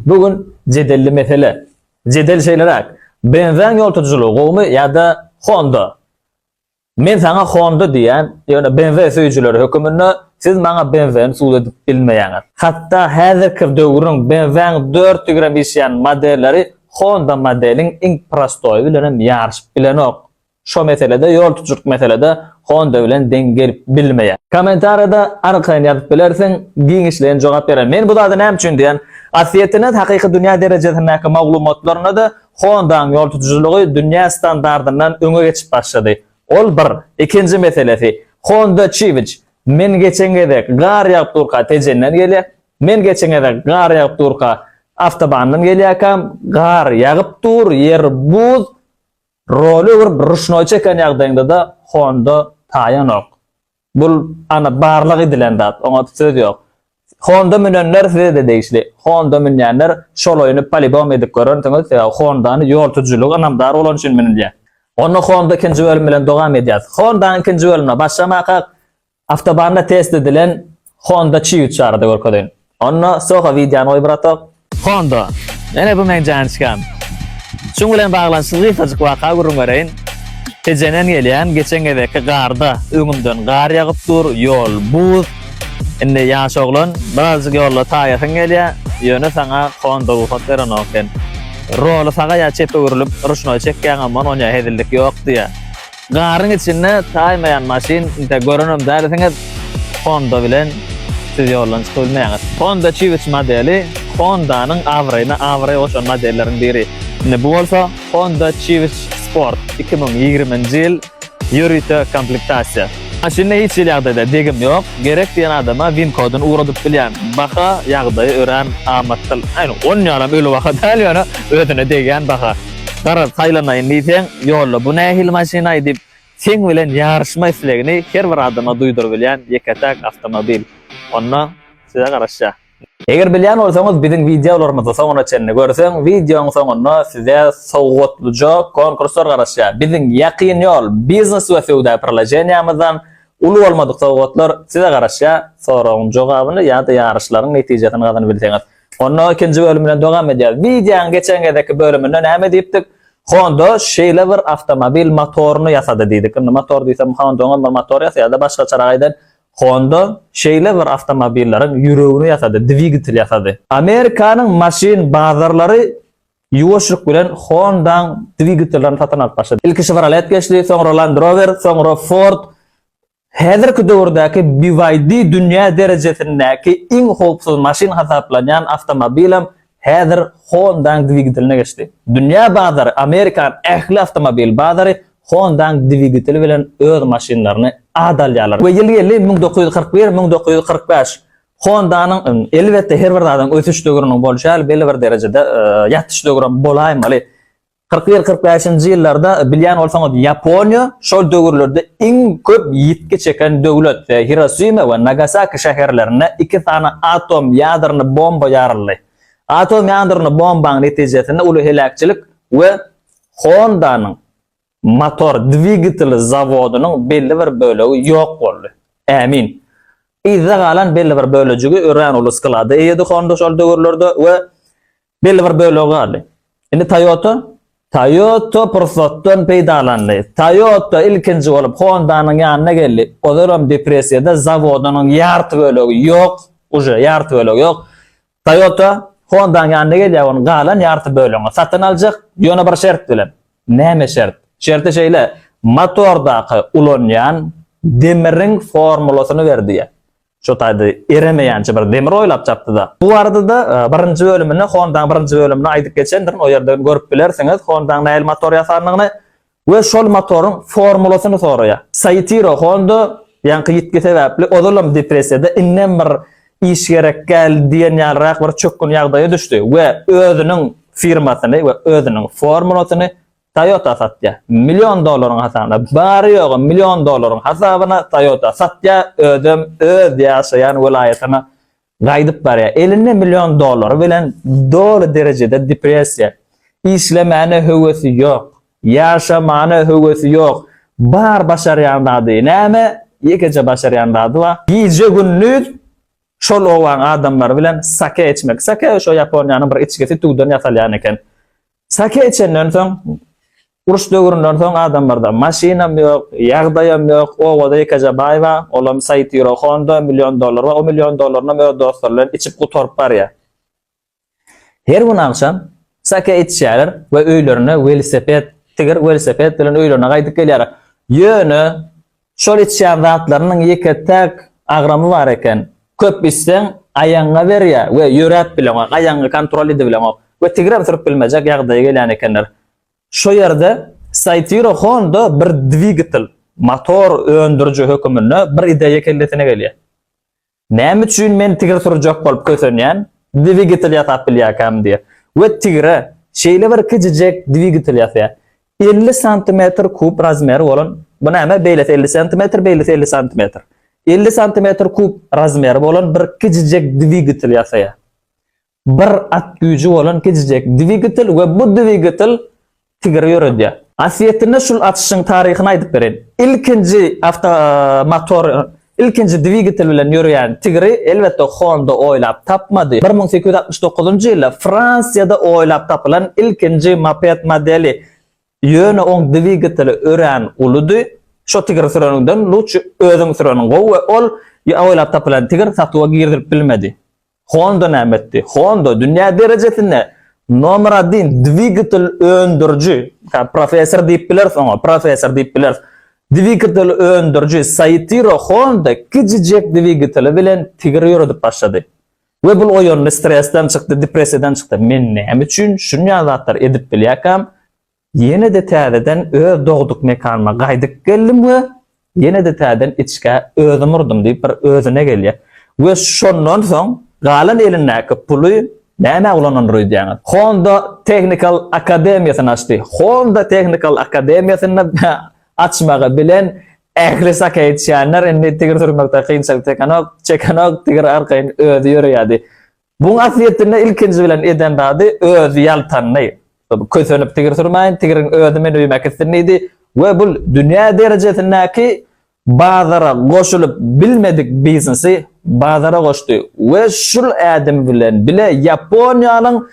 Bu gün jedelli mesele. Jedel şeýleräk, Benzaň ýol tutujylygy gowumy ýa-da Honda? Men saňa Honda diýýän, ýöne BMW söýüjileri höküminde siz maňa BMW-ni subut edip bilmeýäňiz. Hatda häzirki döwrüň BMW-nyň dört tigirem işýän modelleri Honda modeliň iň prostoýy bilenem ýaryşyp bilenok. Şo meselede ýol tutjurk meselede Honda bilen deň gelip bilmeýär. Komentarýada arkaýyn ýazyp bilersiň, giňişleýin jogap berer. Men bu zady näme üçin diýýän? Aslýetine hakyky dünýä derejesindäki maglumatlarynda-da Honda-nyň ýol tutujylygy dünýä standardyndan öňe geçip başlady. Ol bir. Ikinji meselesi, Honda Civic. Men geçen gezek gar ýagyp durka Tejenden gelýär. Men geçen gezek gar ýagyp durka awtobandan gelýärkäm, gar ýagyp dur, ýer buz. Roly öwürip ruşnoý çeken ýagdaýyňdada honda taýanok. Bul ana barlag edilen zat, oňa söz ýok. Honda münenler sizede degişli. Honda münýänler şol oýny polibom edip görersiňiz, sebäbi hondany ýol tutujilige ynamdar bolany üçin münülýär. Onda honda ikinji bölüm bilen dowam edýäs. Hondanyň ikinji bölümine başlamakak Awtobanda test edilen Honda Civic barada görkezeýin. Onda Soho wideony goý bratok. Honda. Ene bu meň janyçkam. Şuň bilen baglanyşykly gysgajyk waka gürrüň bereýin. Tejenden gelýän, geçen gezekki garda öňümden gar ýagyp dur, ýol buz. Indi ýaş oglan, birazjyk ýolda taýasyň gelýär, ýöne saňa Honda rugsat berenok eken. Roly saga ýa çepe öwrülip, ruşnoý çekýäňamman onýa hezillik ýok diýýär. Garyň içinde taýmaýan maşyn inte görenem dälisiňiz Honda bilen siz ýoldan çykyp bilmeýäňiz. Honda Civic modeli Hondanyň abraýyna abraý goşan modelleriň biri. Indi bu bolsa Honda Civic Sport iki müň ýigrimi nji ýyl ýörite komplektasiýa. Maşynda hiç hili ýagdaýda degim ýok, gerek diýen adama win kodyny ugradyp bilýän. Baha ýagdaýy örän amatdyl. Aýn on ýalam öli baha däl ýöne özüne degýän baha. Garaz, saýlanaýyn diýseň, ýolda bu nähili maşynaý diýip, seň bilen ýaryşma islegini her bir adama duýdurybilýän ýeke-täk awtomobil. Onda size garaşýar. Eger bilýän bolsaňyz, biziň wideolarymyzy soňuna çenli görseň, wideoň soňunda size sowgatlyja konkurslar garaşýar. Biziň Ýakyn ýol biznes we söwda priloženiýamyzdan uly bolmadyk sowgatlar size garaşýar. Soragyň jogabyny ýa-da ýaryşlaryň netijesini gazanybilseňiz, Onda ikinji bölüm bilen dowam edýäris. Wideoň geçen gezekki bölüminde näme diýipdik? Honda şeýle bir awtomobil motoryny ýasady diýdik. Indi motor diýsem Honda-nyň bir motory ýasaýar-da, başgaçarak aýdan Honda şeýle bir awtomobilleriň ýüregini ýasady, dwigatel ýasady. Amerikanyň maşyn bazarlary ýuwaşlyk bilen Honda-nyň dwigatellerini satyn alyp başlady. Ilki Chevrolet geçdi, soňra Land Rover, soňra Ford, Häzirki döwürdäki BYD dünýä derejesindäki iň howpsuz maşyn hasaplanýan awtomobilem häzir Honda-nyň dwigiteline geçdi. Dünýä bazary, Amerikanyň ähli awtomobil bazary Honda-nyň dwigiteli bilen öz maşynlaryny at alýarlar we ýyl-ýyly müň dokuz ýüz kyrk bir, müň dokuz ýüz kyrk bäş Honda-nyň, elbetde, her bir zadyň ösüş döwrüniň bolşy ýaly belli bir derejede ýatyş döwrem bolaýmaly, Kyrk bir kyrk bäşinji ýyllarda bilýän bolsaňyz Ýaponiýa şol döwürlerde iň köp ýitgi çeken döwlet we Hirosima we Nagasaki şäherlerine iki sany atom ýadrony bomba ýaryldy. Atom ýadrony bombaň netijesinde uly heläkçilik we Honda-nyň motor dwigateli zawodynyň belli bir bölegi ýok boldy. Ämin. Yzda galan belli bir bölejigi örän uly sklada eýedi Honda şol döwürlerde we Belli bir bölegi galdy. Indi Toyota Toyota pursatdan peýdalandy. Toyota ilkinji bolup Honda-nyň ýanyna geldi. Ozaram depressiýada zawodynyň ýarty bölegi ýok, uje ýarty bölegi ýok. Toyota Honda-nyň ýanyna gelýär, onuň galan ýarty bölegini satyn aljak, ýöne bir şert bilen. Näme şert? Şerti şeýle, motordaky ulanýan demiriň formulasyny ber diýýär. Şu taýda eremeýänçä bir demir oýlap tapdy-da. Bu barada-da birinji bölüminde, Honda-nyň birinji bölüminde aýdyp geçendirin, o ýerden görüp bilersiňiz, Honda-nyň nähili motor ýasandygyny we şol motoryň formulasyny soraýar. Soitiro Honda ýaňky ýitgi sebäpli ozalam depressiýada, indem bir iş gerek däl diýen ýalyrak bir çökgün ýagdaýa düşdi we özüniň firmasyny we özüniň formulasyny Toyota satýar. Million dollaryň hasabyna, bary-ýogy million dollaryň hasabyna Toyota satýar, özem öz ýaşaýan welaýatyna gaýdyp barýar. Elinde million dollary bilen doly derejede depressiýa. Işlemäne höwesi ýok. Ýaşamana höwesi ýok. Bar başarýan zady näme? Ýekeje başarýan zady bar. Gije-gündiz şol obaň adamlary bilen sake içmek. Sake şo Ýaponiýanyň bir içgisi tüwden ýasalýan eken. Sake içenden soň, uruş döwründen soň adamlarda maşynam ýok, ýagdaýam ýok, obada ýekeje baý bar, olam Saitiro Honda, million dollary bar, o million dollarynam öz dostlary bilen içip gutaryp barýar. Her gün agşam sake içýärler we öýlerine welosiped, tigir welosiped bilen öýlerine gaýdyp gelýärler. Ýöne Şol içýän zatlarynyň ýeke-täk agramy bar eken. Köp içseň, aýagyňa berýär we ýöräp bileňok, aýagyňy kontrol edibileňok we tigirem sürüp bilmejek ýagdaýa gelýän ekenler. Şo ýerde Cytiro Honda bir dwigatel, motor, öndüriji höküminde bir ideýa kellesine gelýär. Näme üçin men tigir sürjek bolup kösenýän, dwigitel ýasap bilýärkäm diýýär. We tigire şeýle bir kiçijek dwigitel ýasýar. Elli santimetr kub razmeri bolan, bu näme, beýlesi elli santimetr, beýlesi elli santimetr. Elli santimetr kub razmeri bolan bir kiçijek dwigitel ýasaýar. Bir at güýji bolan gijijek dwigatel we bu dwigatel tigiri ýöredýär. Asyýetinde şul açyşyň taryhyny aýdyp bereýin. Ilkinji awto motor ilkinji dwigatel bilen ýöreýän tigiri elbetde Honda oýlap tapmady. Bir müň sekiz ýüz altmyş dokuzynjy ýylda Fransiýada oýlap tapylan ilkinji moped modeli ýöne oň dwigateli örän uludy. Şo tigiri süreniňden luçi özüň süren gowy we ol ýa oýlap tapylan tigir satuwa girizilip bilmedi. Honda näme etdi? Honda dünýä derejesinde nomer adin dwigatel öndüriji, professor diýip bileris oňa, professor diýip bileris. Dwigatel öndüriji Saitiro Honda kijijek dwigateli bilen tigir ýöredip başlady. We bul oýandy, stresden çykdy, depressiýadan çykdy. Men näme üçin şunýa zatlar edip bilýäkäm? Ýene-de täzeden öz dogduk mekanyma gaýdyp geldim we ýene-de täzeden içgä özüm urdum diýip bir özüne gelýär. We şondan soň galan elindäki puly nämä ulanandyr öýdýäňiz? Honda Technical Akademiýasyny açdy. Honda Technical Akademiýasyny açmagy bilen ähli saka içýänler indi tigir sürmekde kynçylyk çekenok, çekenok, tigir arkaýyn özi ýöreýärdi. Bu wasiýetinde ilkinji bilen eden zady özi ýaltandy. Kösenip tigir sürmäýin, tigiriň özi meni öýüme äkitsin diýdi we bu dünýä derejesindäki bazara goşulyp bilmedik biznesi bazara goşdy we şul ädim bilen bile Ýaponiýanyň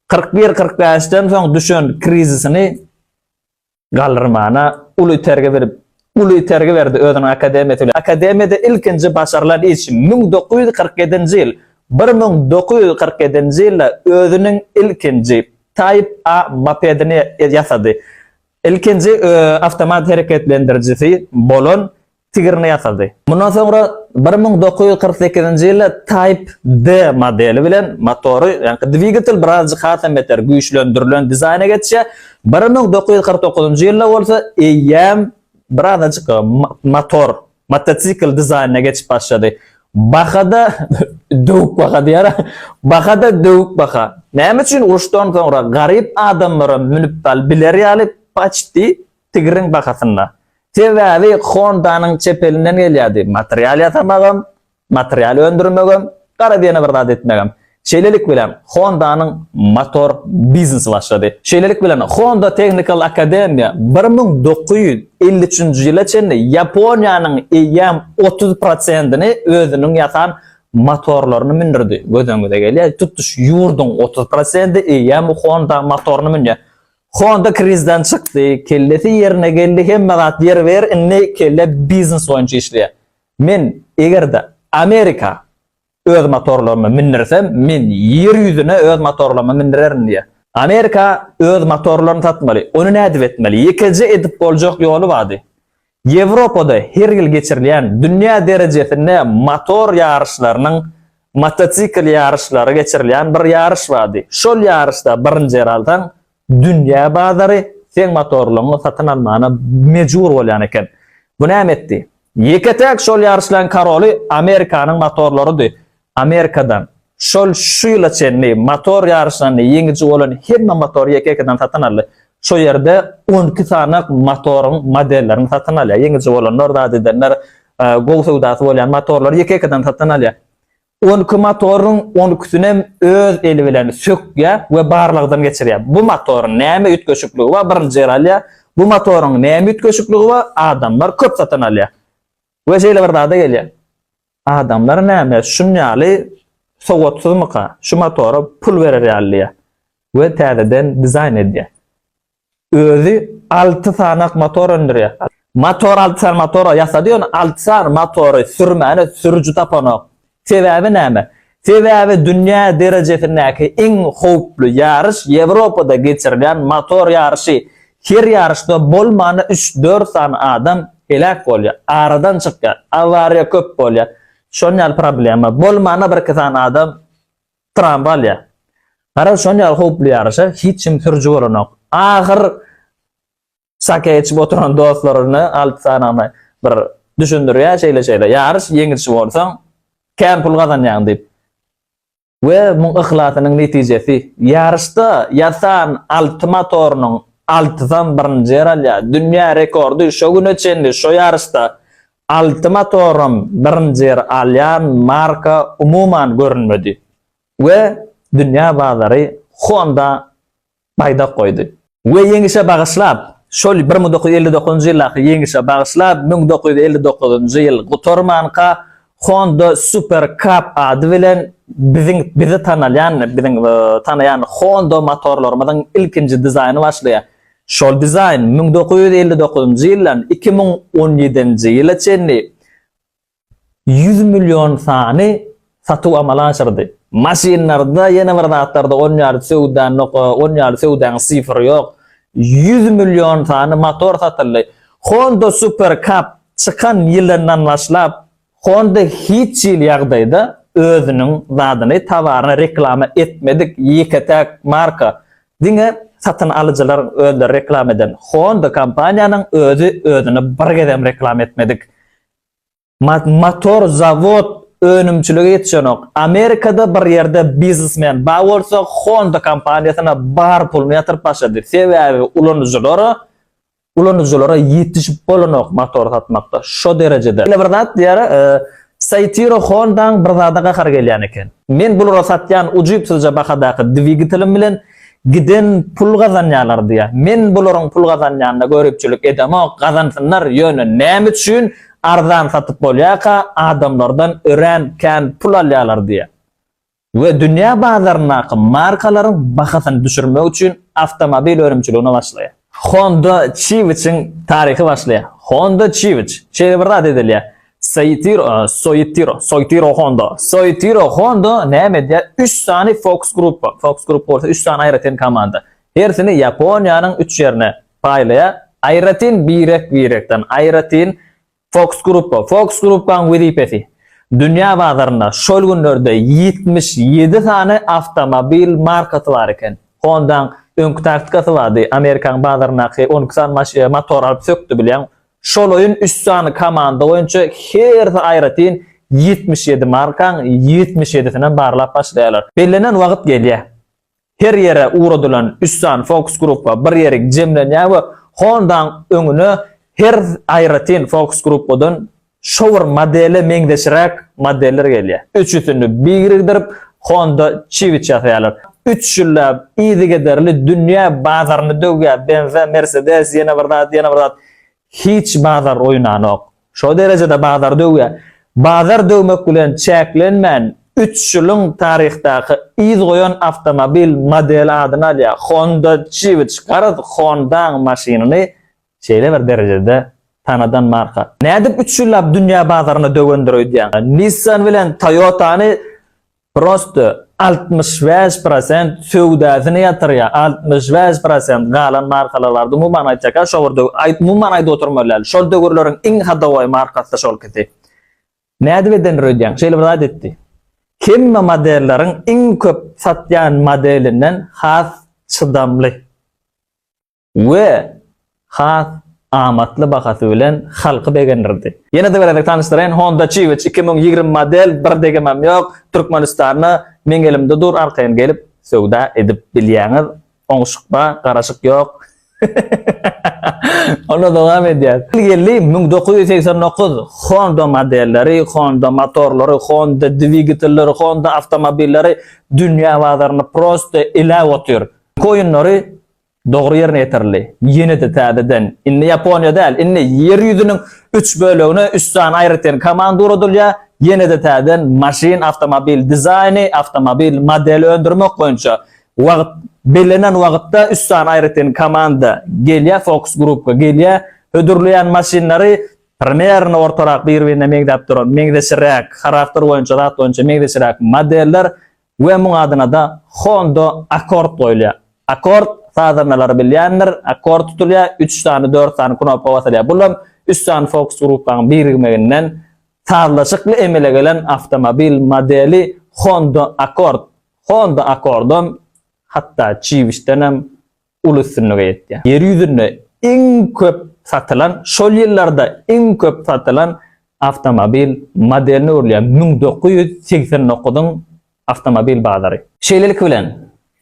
kyrk bir-kyrk bäşden soň düşen krizisini Galrymana uly itergi berip, uly itergi berdi özüniň akademiýa söýlän. Akademiýada ilkinji başarylan işi müň dokuz ýüz kyrk ýedinji ýyl, bir müň dokuz ýüz kyrk ýedinji ýylda özüniň ilkinji Type A mopedini ýasady. Ilkinji awtomat hereketlendirijisi bolan tigrini ýasady. Mundan soňra bir müň dokuz ýüz kyrk sekizinji ýylda Type D modeli bilen motory, ýagny dwigatel birazajyk hasam beter güýçlendirilen dizaýna geçýär. Bir müň dokuz ýüz kyrk dokuzynjy ýylda bolsa eýýäm birazajyk motor motosikl dizaýnyna geçip başlady. Baha-da döwük baha diýýär. Baha-da döwük baha. Näme üçin uruşdan soňra garyp adamlaram münip biler ýaly paçti tigriň bahasynda. Sebäbi Honda-nyň çep elinden gelýärdi, material ýasamagam, material öndürmegem, gara diýene bir zat etmegem. Şeýlelik bilen, Honda-nyň motor biznesi başlady. Şeýlelik bilen, Honda Technical Academy bir müň dokuz ýüz elli üçünji ýyla çenli Ýaponiýanyň eýýäm otuz prosentini özüniň ýasan motorlaryny mündürdi. Göz öňüňize gelýär, tutuş ýurduň otuz prosenti eýýäm Honda motoryny münýär. Honda krizden çykdy, kellesi ýerine geldi, hemme zat ýer ber, indi kelle biznes boýunça işleýär. Men eger-de Amerika öz motorlarymy mindirsem, men ýer ýüzüne öz motorlarymy mindirerin diýýär. Amerika öz motorlaryny satmaly, ony nädip etmeli? Ýekeje edip boljak ýoly bardy. Ýewropada her ýyl geçirilýän dünýä derejesinde motor ýaryşlarynyň motosikl ýaryşlary geçirilýän bir ýaryş bardy. Şol ýaryşda birinji ýer alsaň, dünýä bazary seň motorlygyňy satyn almana mejbur bolýan eken. Bu näme etdi? Ýeke-täk şol ýaryşlaryň karoly Amerikanyň motorlarydy. Amerikadan, şol şu ýyla çenli motor ýaryşlarynda ýeňiji bolan hemme motory ýeke-ýekeden satyn aldy. Şo ýerde on iki sany motoryň modellerini satyn alýar. Ýeňiji bolanlar, zat edenler gowy söwdasy bolýan motorlary ýeke-ýekeden satyn alýar. On iki motoryň on ikisinem öz eli bilen sökýär we barlagdan geçirýär. Bu motoryň näme üýtgeşikligi bar? Birinji ýer alýar. Bu motoryň näme üýtgeşikligi bar? Adamlar köp satyn alýar. We şeýle bir zada gelýän. Adamlar näme şunýaly sowatsyzmyka şu motora pul berer ýaly diýýä. We täzeden dizaýn edýä. Özi alty sanak motor öndürýä. Motor alty sany motor ýasady ýöne alty sany motory sürmäne sürüji tapanok. Sebäbi näme? Sebäbi dünýä derejesindäki iň howply ýaryş Ýewropada geçirilýän motor ýaryşy. Her ýaryşda bolmany üç-dört sany adam heläk bolýar, aradan çykýar, awariýa köp bolýar. Şon ýaly problema. Bolmana birki sany adam trawma alýar. Garaz şon ýaly howply ýaryşa hiç kim sürüji bolanok. Ahyr Sake içip oturan dostlaryna alty sanagyna bir düşündirýär şeýle-şeýle. Ýaryş ýeňiji bolsaň, kän pul gazanýaň diýip. We muň yhlasynyň netijesi. Ýaryşda ýasan alty motorynyň altysam birinji ýer alýar. Dünýä rekordy şo güne çenli şo ýaryşda alty motoram birinji ýer alýan marka umuman görünmedi. We dünýä bazary Honda baýdak goýdy. We Ýeňişe bagyşlap, şol bir müň dokuz ýüz elli dokuzynjy ýyldaky Ýeňişe bagyşlap, müň dokuz ýüz elli dokuzynjy ýyl gutarmanka Honda Super Cup ady bilen biziň bizi tanalýan, biziň tanaýan Honda motorlarymyzyň ilkinji dizaýny başlaýar. Şol dizaýn müň dokuz ýüz elli dokuzynjy ýyldan iki müň on ýedinji ýyla çenli ýüz million sany satuw amala aşyrdy. Maşynlarda, ýene bir zatlarda on ýaly söwda noka, on ýaly söwdäň sifri ýok. Ýüz million sany motor satyldy. Honda Super Cup çykan ýylyndan başlap, Honda hiç hili ýagdaýda özüniň zadyny, towaryny reklama etmedik ýeke-täk marka. Diňe satyn alyjylar özleri reklama eden. Honda kompaniýanyň özi özüni bir gezem reklama etmedik. Motor zawod önümçilige ýetişenok. Amerikada bir ýerde biznesmen bar bolsa Honda kompaniýasyna bar puluny ýatyryp başlady. Sebäbi ulanyjylara ulanyjylara ýetişip bolanok motor satmakda. Şo derejede. Ýene bir zat diýýär, Saitiro Hondaň bir zada gahary gelýän eken. Men bulara satýan ujypsyzja bahadaky dwigatelim bilen Giden pul gazanýalar diýä. Men bularyň pul gazanýanyna göripçilik edemok, gazansynlar, ýöne näme üçin arzan satyp bolýarka adamlardan örän kän pul alýalar diýä. We dünýä bazaryndaky markalaryň bahasyny düşürmek üçin awtomobil önümçiligine başlaýar. Honda Çiwiçiň taryhy başlaýar. Honda Çiwiç, şeýle bir zat edilýär. Soýtiro, Soýtiro, Soýtiro Honda. Soýtiro Honda näme edýär? Üç sany Fox Gruppa, Fox Gruppa bolsa üç sany aýratyn komanda. Hersini Ýaponiýanyň üç ýerine paýlaýar. Aýratyn birek-birekden, aýratyn Fox Gruppa Fox Gruppanyň wezipesi dünýä bazarynda şol günlerde ýetmiş ýedi sany awtomobil markasy bar eken. Honda-nyň öňki taktikasy bardy, Amerikanyň bazaryndaky on iki sany maş motor alyp sökdi bilýän. Şolaýyn üç sany komanda boýunça hersi aýratyn ýetmiş ýedi markaň ýetmiş ýedisinem barlap başlaýarlar. Bellenen wagyt gelýär. Her ýere ugradylan üssan fokus-gruppa bir ýerik jemlenýär we Honda-nyň öňüne her aýratyn fokus-gruppadan şo bir modele meňzeşräk modeller gelýär. Üçüsini birikdirip, Honda Civic ýasaýarlar. Üç ýylläp yzygiderli dünýä bazaryny döwýär, Benz-ä, Mercedes, ýene bir zat, ýene bir zat. Hiç bazar oýnanok. Şo derejede bazar döwýär. Bazar döwmek bilen çäklenmän, üç ýylyň taryhdaky yz goýan awtomobil modeli adyny alýar. Honda Civic garaz Honda-nyň maşynyny şeýle bir derejede tanadan marka. Nädip üç ýyllap dünýä bazaryna döwendir öýdýäň? Nissan bilen Toyota-ny Prosto altmyş bäş prosent söwdasyny ýatyrýa altmyş bäş prosent galan markalarlar umuman aýtjaka şo bir aýt umuman aýdyp oturmaly däl şol döwürleriň iň hadowaý markasy şolkisi nädip edendir öýdýäň şeýle bir zat etdi hemme modelleriň iň köp satýan modelinden has çydamly. we has amatly bahasy bilen halky begendirdi. Ýene-de bir gezek tanyşdyraýyn, Honda Civic iki müň ýigrimi model, bir degimem ýok, Türkmenistanda meň elimde dur, arkaýyn gelip söwda edip bilýäňiz, oňşuk bar, garaşyk ýok. Onda dowam edýäs. Ýyl geldi, müň dokuz ýüz segsen dokuz Honda modelleri, Honda motorlary, Honda dwigatelleri, Honda awtomobilleri dünýä bazaryny prosta iläp otyr. Koýunlary Dogry ýerine ýetirildi. Ýene-de täzeden, indi Ýaponiýa däl, indi Ýer ýüzüniň üç bölegine üç sany aýratyn komanda ugradylýar, ýene-de täzeden maşyn, awtomobil dizaýny, awtomobil modeli öndürmek boýunça wagt, bellenen wagtda üç sany aýratyn komanda gelýär, fokus grupka gelýär, hödürleýän maşynlary primernı ortarak bir-birine meňzäp duran, meňzeşiräk, harakter boýunça, zat boýunça meňzeşiräk modeller We muň adynada Honda Accord goýulýar. Accord sazandalar bilýändir, akkord tutulýar, üç sany, dört sany knopka basylýar. Bulam üç sany fokus grupaň birigmeginden sazlaşykly emele gelen awtomobil modeli Honda Accord. Honda Accordam hatda çiwişdenem uly üstünlige ýetýär. Ýer ýüzünde iň köp satylan, şol ýyllarda iň köp satylan awtomobil modeline öwrülýän müň dokuz ýüz segsen dokuzyň awtomobil bazary. Şeýlelik bilen,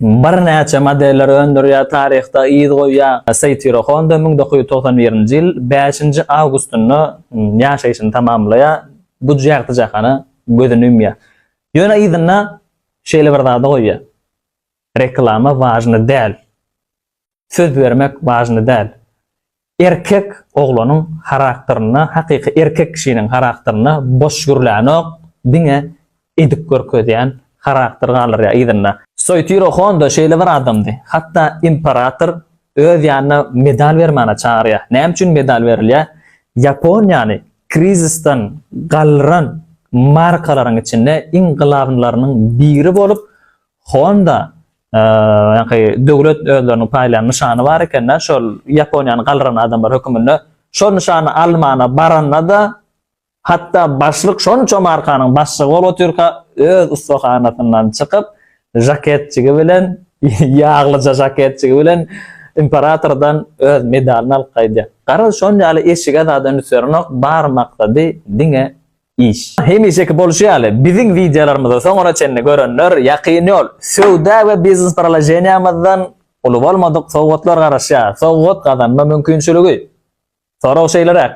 birnäçe modeller öndürýär, taryhda yz goýýar. Seitiro Honda müň dokuz ýüz togsan birinji ýyl bäşinji awgustynda ýaşaýşyny tamamlaýar, bu jagty jahana gözüni ümýär. Ýöne yzynda şeýle bir zady goýýar. Reklama wajny däl. Söz bermek wajny däl. Erkek oglanyň harakterine, hakyky erkek kişiniň harakterine boş gürlänok, diňe edip görkezýän harakter galdyrýar yzynda. Soýtiro Honda şeýle bir adamdy. Hatda imperator öz ýanyna medal bermäne çagyrýar. Näme üçin medal berilýär? Ýaponiýany krizisden galdyran markalaryň içinde iň glawnylarynyň biri bolup, Honda ýaňky döwlet özleriniň paýlaýan nyşany bar ekende şol Ýaponiýany galdyran adamlar höküminde şol nyşany almana baranda-da hatda başlyk şonça markanyň başlygy bolup otyrka öz ussahanasyndan çykyp žaketjigi bilen ýaglyja žaketjigi bilen imperatordan öz medalyny alyp gaýdýar. Garaz şonýaly eşige zada üns berenok bar maksady diňe iş. Hemişeki bolşy ýaly, biziň wideolarymyzy soňuna çenli görenler Ýakyn ýol söwda we biznes proloženiýamyzdan uly bolmadyk sowgatlar garaşýar. Sowgat gazanma mümkinçiligi. Sorag şeýleräk,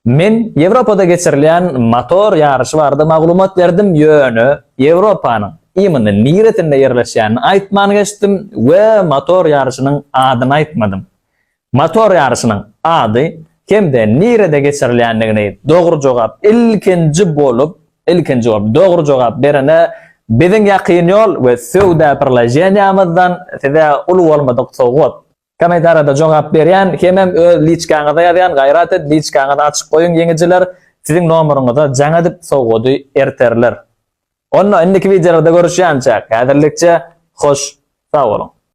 Men Ýewropada geçirilýän motor ýaryşy barada maglumat berdim, ýöne Ýewropanyň imini niresinde ýerleşýänini aýtman geçdim we motor ýaryşynyň adyny aýtmadym. Motor ýaryşynyň ady hem-de nirede geçirilýändigini dogry jogap ilkinji bolup ilkinji bolup dogry jogap berene biziň ýakyn ýol we söwda prlaženiýamyzdan size uly bolmadyk sowgat. Kommentariýada jogap berýän hemem öz liçkaňyza ýazýan gaýrat et liçkaňyzy açyk goýuň ýeňijiler siziň nomeryňyza jaň edip sowgady erterler. Onda indiki wideolarda görüşýänçäk häzirlikçe hoş sag boluň.